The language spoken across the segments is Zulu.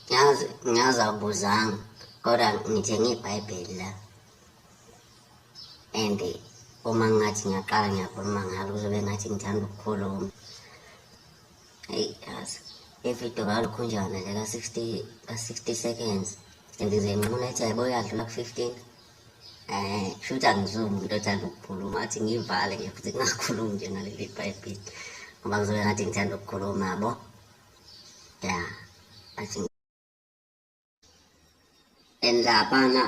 ngiyazi ngiyazi awubuzanga kodwa ngithenge ibhayibheli la and uma ngathi ngiyaqala ngiyakhuluma ngalo kuzobe ngathi ngithanda ukukhuluma eyi yazi ividiyo ngalokhunjana le ka-sixty ka-sixty seconds and ngize nquna ethi yayibo yadlula ku-fifteen um shuthi angizumi umuntu othanda ukukhuluma athi ngivale nje futhi kungakhulumi nje naleli bhayibhile ngoba ngizobe ngathi ngithanda ukukhuluma yabo ya athi and labana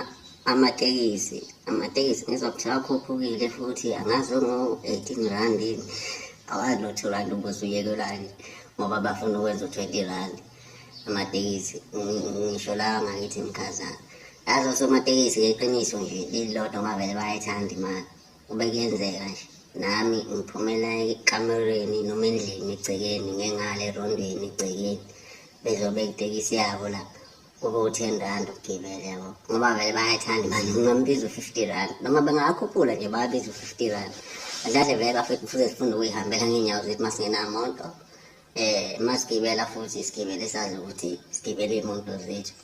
amatekisi amatekisi ngizwa kuthiwa akhuphukile futhi angazi ongu-eighteen rand yini awazi nothi urand ubuze uyekelani ngoba bafuna ukwenza u-twenty rand amatekisi ngisho lawa ngakithi mkhazana yazi osomatekisi ngeqiniso nje lilodwa bavele bayayithanda imali kube kuyenzeka nje nami ngiphumela ekamereni noma endlini egcekeni ngengale erondweni egcekeni bezobe itekisi yabo lapha kube u-ten rand ukugibela yabo ngoba vele bayayithanda imali ungambiza u-fifty rand noma bengakhuphula nje bayabiza u-fifty rand azahle vele bafike kufuze sifunda ukuyihambela ngeenyawo zethu masingenamonto eh masigibela futhi isigibele sazi ukuthi sigibele imoto zethu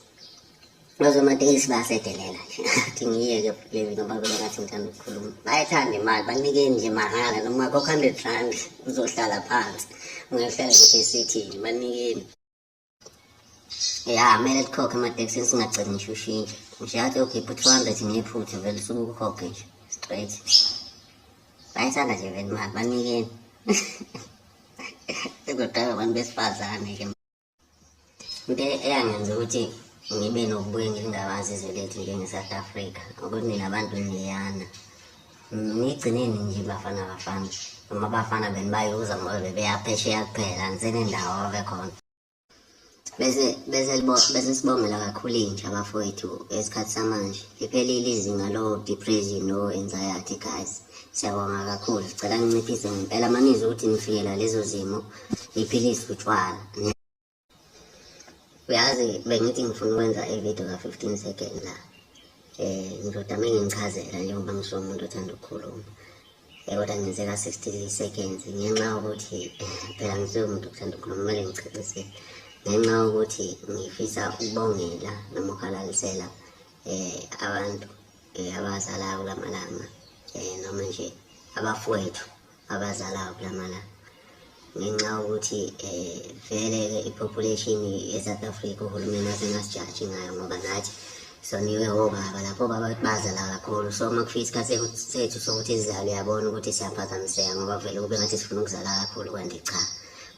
nozomatekisi bayasedelela nje athi ngiyeke levi noma kube ngathi ngithanda ukukhuluma bayayithanda imali banikeni nje mahhala noma kokho hundred rand uzohlala phansi ungehlala ngisho esithini banikeni ya kumele likhokhe ematekisini singagcini ngisho ushintshe ngisho yathi yokhipha u-two hundred ngephutha vele usuke ukukhokhe nje straight bayithanda nje vele imali banikeni kodwa abantu besifazane-ke into eyangenza ukuthi ngibe nokubuye ngilingabazi izwe lethu njenge-south africa ukuthi nina bantu niyana nigcineni nje bafana bafana noma abafana benu bayuza ngoba bebeyaphesheya kuphela nisenendawo abekhona bese bese bese sibongela kakhulu intsha bafowethu esikhathi samanje liphelile izinga lo depression no anxiety guys siyabonga kakhulu sicela ninciphise ngempela manizwe ukuthi nifikela lezo zimo niphilise utshwala uyazi bengithi ngifuna ukwenza ividiyo ka-fifteen second la um ngizoda me ngingichazela njengoba ngisho umuntu othanda ukukhuluma um kodwa ngenzeka sixty seconds ngenxa yokuthi phela ngisuke umuntu okuthanda ukukhuluma kumele ngicacisele ngenxa yokuthi ngifisa ukubongela noma ukhalalisela um abantu um abazalayo kula malanga um noma nje abafowethu abazalayo kulamala ngenxa ukuthi eh vele ke ipopulation eSouth Africa uhulumeni asengasijaji ngayo ngoba nathi soniwe obaba lapho baba bazala kakhulu so uma kufika isikhathi sethu sokuthi sizalwe yabona ukuthi siyaphazamiseka ngoba vele kube ngathi sifuna ukuzala kakhulu kanti cha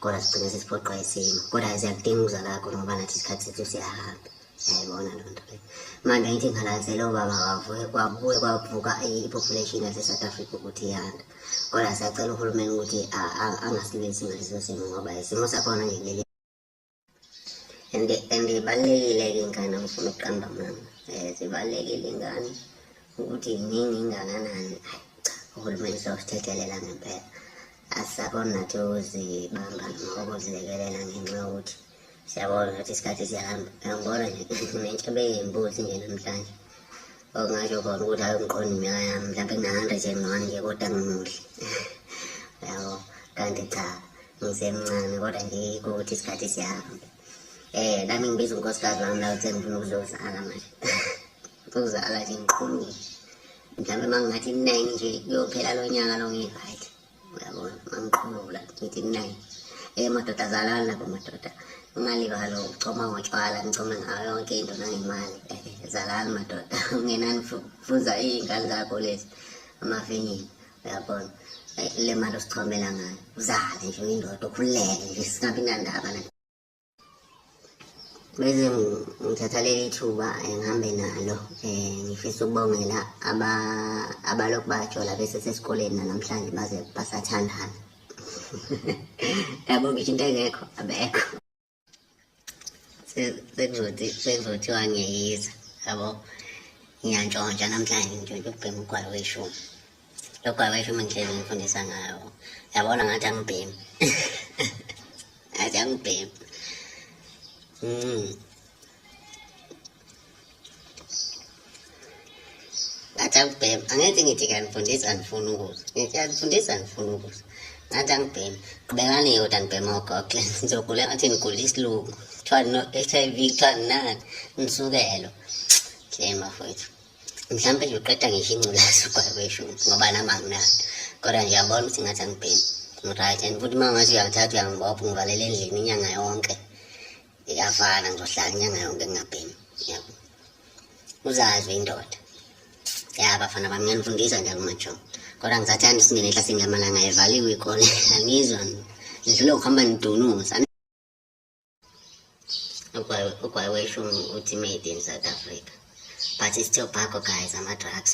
kodwa sigcine sesiphoqwa isimo kodwa siyakudinga ukuzala kakhulu ngoba nathi isikhathi sethu siyahamba Siyayibona loo nto leyo. Manje angithi ngikhalazele ubaba kavuke kwabuye kwavuka i- i-population yase-South Africa ukuthi iyanda. Kodwa siyacela uhulumeni ukuthi a- a- angasilwisi ngaleso simo ngoba isimo sakhona nje kuleli and and ibalulekile ke ingane ngifuna ukuqamba mama eh zibalulekile ingane ukuthi yini ingakanani hayi cha uhulumeni sosithethelela ngempela asisakona nathi ukuzibamba nokuzelekelela ngenxa yokuthi siyabona ukuthi isikhathi siyahamba ngiyangibona nje nentsha beyimbuzi nje namhlanje okungasho khona ukuthi hayi ngiqonda iminyaka yami mhlawumbe ngina-hundred and one nje kodwa ngimuhle yabo kanti cha ngisemncane kodwa nje yikho ukuthi isikhathi siyahamba um nami ngibiza unkosikazi wami la ukuthi engifuna ukuzozala manje ukuzala nje ngiqhumile mhlawumbe uma ngingathi nine nje kuyophela lo nyaka lo ngi-right uyabona mangiqhubula ngithi kunaye um madoda zalani lapho madoda ungalibalo ucoma ngotshwala ngicome ngayo yonke into nangemali zalani madoda ungenani fuza iy'ngane zakho lezi amavinyini uyabona le mali osichomela ngayo uzale nje uyindoda ukhululeke nje singabi nandaba Bese ngithatha leli thuba eh, ngihambe nalo um ngifisa ukubongela abalokhu bajola bese sesikoleni nanamhlanje baze basathandana yabo ngisho into engekho abekho sekuzothi sekuzothiwa ngiyeyisa yabo ngiyantshontsha namhlanje ngitshontsha ukubhema ugwalo weshumi lokho akwesho uma ngihlezi ngifundisa ngayo yabona ngathi angibhemi ngathi angibhemi mm. ngathi angibhemi angenzi ngithi kanifundisa ngifuna ukuzwa ngithi kanifundisa ngifuna ukuzwa ngathi angibhemi qhubekani yoda ngibhema ugogle ngizogula ngathi ngigula isilungu kuthiwa no-h i v kuthiwa nginani ngisukelo shame afowethu mhlawumbe nje uqeda ngisho ingculazi ukwayisho ngoba nami anginayo kodwa nje yabona ukuthi ngathi angibhemi ngiryt and futhi uma ngathi uyangithatha uyangibopha ngivalela endlini inyanga yonke iyafana ngizohlala inyanga yonke ngingabhemi yabo uzazi uyindoda ya bafana bami ngiyanifundisa njalo umajo kodwa ngisathanda isingene ehlasingamalanga evaliwe ikole angizwa ngidlule ukuhamba nidunuza ugwayi weshumi uthi made in south africa but it's still bhako guys ama-drugs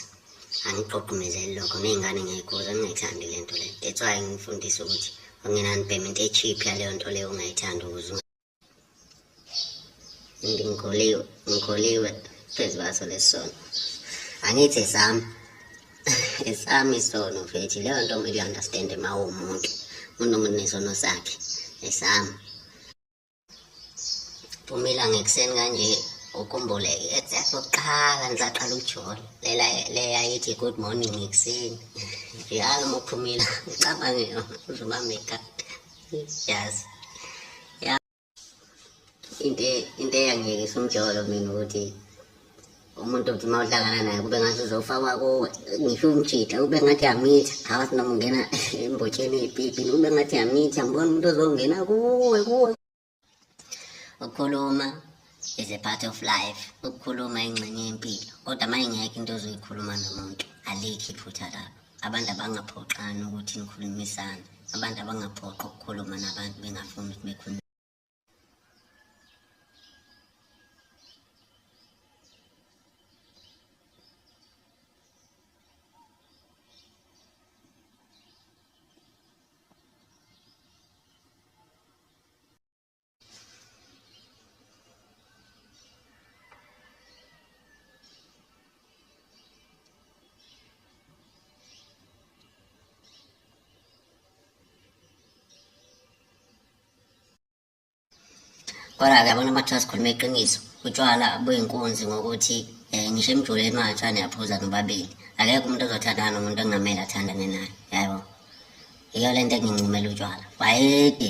angiqoqumezeli lokho ney'ngane ngiyayikhuza ngingayithandi le nto le that's why ngifundisa ukuthi ungenani payment e-cheap yaleyo nto leyo ungayithandi ukuze ngikhuliwe ngikhuliwe phezu kwaso lesi sono angithi sami esami isono mfethu leyo nto kumele uyi-understand uma uwumuntu umuntu nomuntu nesono sakhe esami phumela ngekuseni kanje ukhumbuleke exact okokuqala ngisaqala ukujula lela leyayithi good morning ekuseni njalo uma uphumile ucabange yona uzoba make up yes into into eyangiyekisa umjolo mina ukuthi umuntu uthi uma uhlangana naye kube ngathi uzofakwa kuwe ngisho umjida kube ngathi yamitha ngawathi noma ungena embotsheni ey'pipini kube ngathi yamitha ngibona umuntu ozongena kuwe kuwe ukukhuluma is a part of life ukukhuluma ingxenye yempilo kodwa uma ingekho into ozoyikhuluma nomuntu alikho iphutha lapho Abantu abangaphoxani ukuthi nikhulumisane. Abantu abangaphoqi ukukhuluma nabantu bengafuni ukuthi bekhulume. Kodwa-ke abantu amathu asikhuluma iqiniso utshwala buyinkunzi ngokuthi um ngisho emjoleni watsha niyaphuza nobabili akekho umuntu ozothandana nomuntu engamele athandane naye yabo yiyo le nto engincumela utshwala wayede